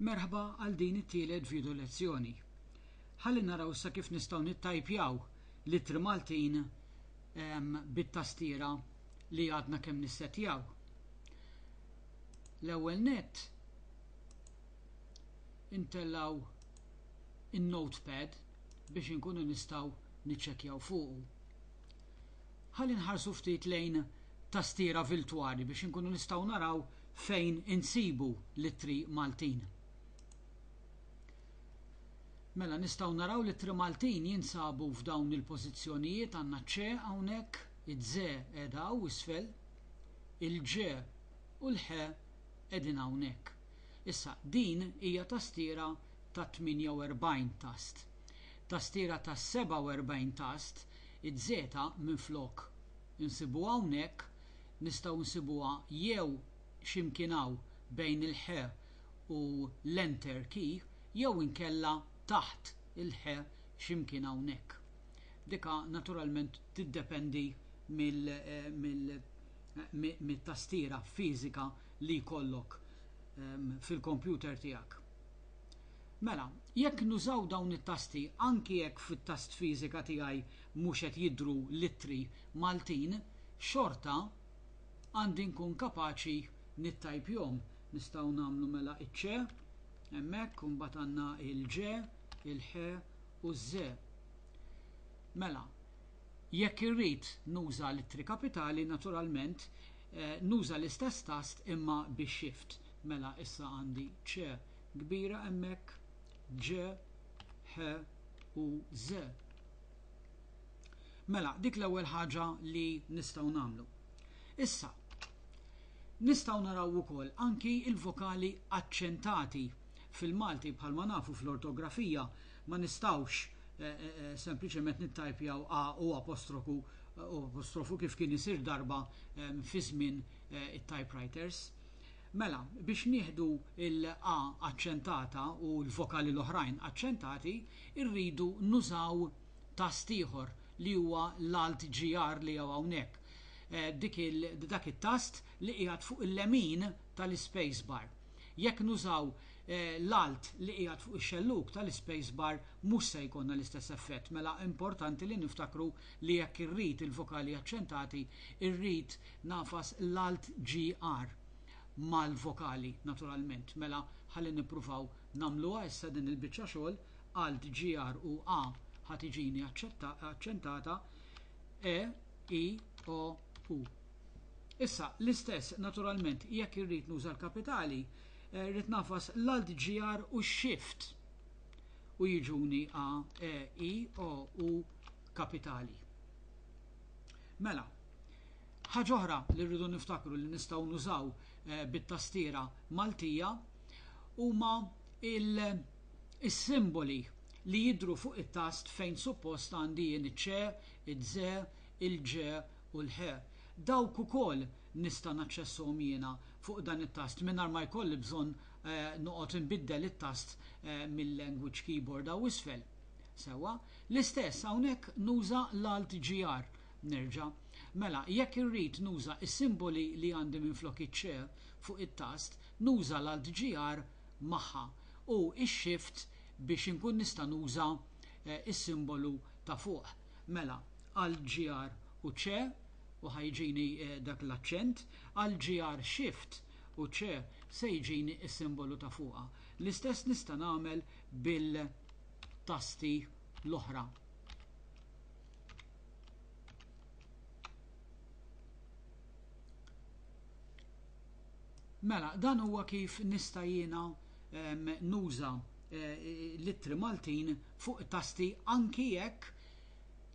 Merħba għal din it-tielet video lezzjoni. Ħalli naraw issa kif nistgħu nittajpjaw l-ittri Maltin ehm, bit-tastiera li għadna kemm nissettjaw. L-ewwel nett intellaw in-notepad biex inkunu nistgħu niċċekkjaw fuqu. Ħalli nħarsu ftit lejn tastiera viltwali biex inkunu nistgħu naraw fejn insibu l-ittri Maltin. Mela nistgħu naraw l-ittri Maltin jinsabu f'dawn il-pożizzjonijiet għandna ċ hawnhekk, iż-ze qiegħda hawn isfel, il-ġe u l-ħe qegħdin hawnhekk. Issa din hija tastiera ta' 48 tast. Tastiera ta' 47 tast Iz-zeta minflok insibuha hawnhekk nistgħu nsibuha jew xi mkien hawn bejn il-ħ u l-enter key jew inkella taħt il-ħ xi mkien hawnhekk. Dika naturalment tiddependi mit-tastiera fiżika li jkollok fil-kompjuter tiegħek. Mela, jekk nużaw dawn it-tasti anki jekk fit-tast fiżika tiegħi mhux qed jidhru l-ittri Maltin, xorta għandi nkun kapaċi nittajpjhom. Nistgħu nagħmlu mela iċ-ċe hemmhekk u mbagħad għandna il-ġe, il-ħe u ż-ze. Mela, jekk irrid nuża l-ittri kapitali, naturalment, nuża l-istess tast imma bi shift. Mela issa għandi ċ kbira hemmhekk, ġ, ħ u ż. Mela, dik l-ewwel ħaġa li nistgħu nagħmlu. Issa, nistgħu naraw ukoll anki l-vokali aċċentati. Fil-Malti bħalma nafu fl-ortografija ma nistgħux eh, eh, eh, sempliċement nittajpjaw a u apostrofu u apostrofu kif kien isir darba fi żmien it-typewriters. Mela, biex nieħdu l-a aċċentata u l-vokali l-oħrajn aċċentati, irridu nużaw tast ieħor li huwa l-Alt GR li hawn hawnhekk, dak it-tast li qiegħed fuq il-lemin tal-ispace bar. Jekk nużaw l-Alt li qiegħed fuq ix-xellug tal-ispace bar mhux se jkollna l-istess effett. Mela importanti li niftakru li jekk irrid il-vokali aċċentati, irrid Nagħfas l-alt GR mal-vokali naturalment. Mela ħalli nippruvaw nagħmluha issa din il-biċċa xogħol, alt GR u A ħa tiġini aċċentata, E, I, O, U. Issa, l-istess naturalment jekk irrid nuża l-kapitali, rrid nagħfas l-alt GR u x-shift u jiġuni A, E, I, O, U kapitali. Mela, ħaġa oħra li rridu niftakru li nistgħu nużaw eh, bit-tastiera Maltija huma il-simboli li jidru fuq it-tast fejn suppost għandi jien iċ-ċe, iż-że, il-ġe u l-ħe. Dawk ukoll nista' naċċessuhom jiena fuq dan it-tast mingħajr ma jkolli bżonn eh, noqgħod inbiddel it-tast eh, mill-language keyboard hawn isfel. Sewwa, l-istess hawnhekk nuża l-Alt GR. Nerġa'. Mela, jekk irrid nuża s-simboli li għandi minflok iċ-c fuq it-tast, nuża l-Alt GR magħha u x-Shift biex inkun nista' nuża s-simbolu ta' fuq. Mela, Alt GR u c u ħa jġini dak l-aċċent, Alt GR Shift u c se jġini s-simbolu ta' fuqha. L-istess nista' nagħmel bil-tasti l-oħra. Mela, dan huwa kif nista' jiena ehm, nuża eh, l-ittri Maltin fuq tasti anki jekk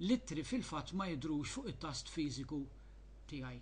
l-ittri fil-fatt ma jidrux fuq it-tast fiżiku tiegħi.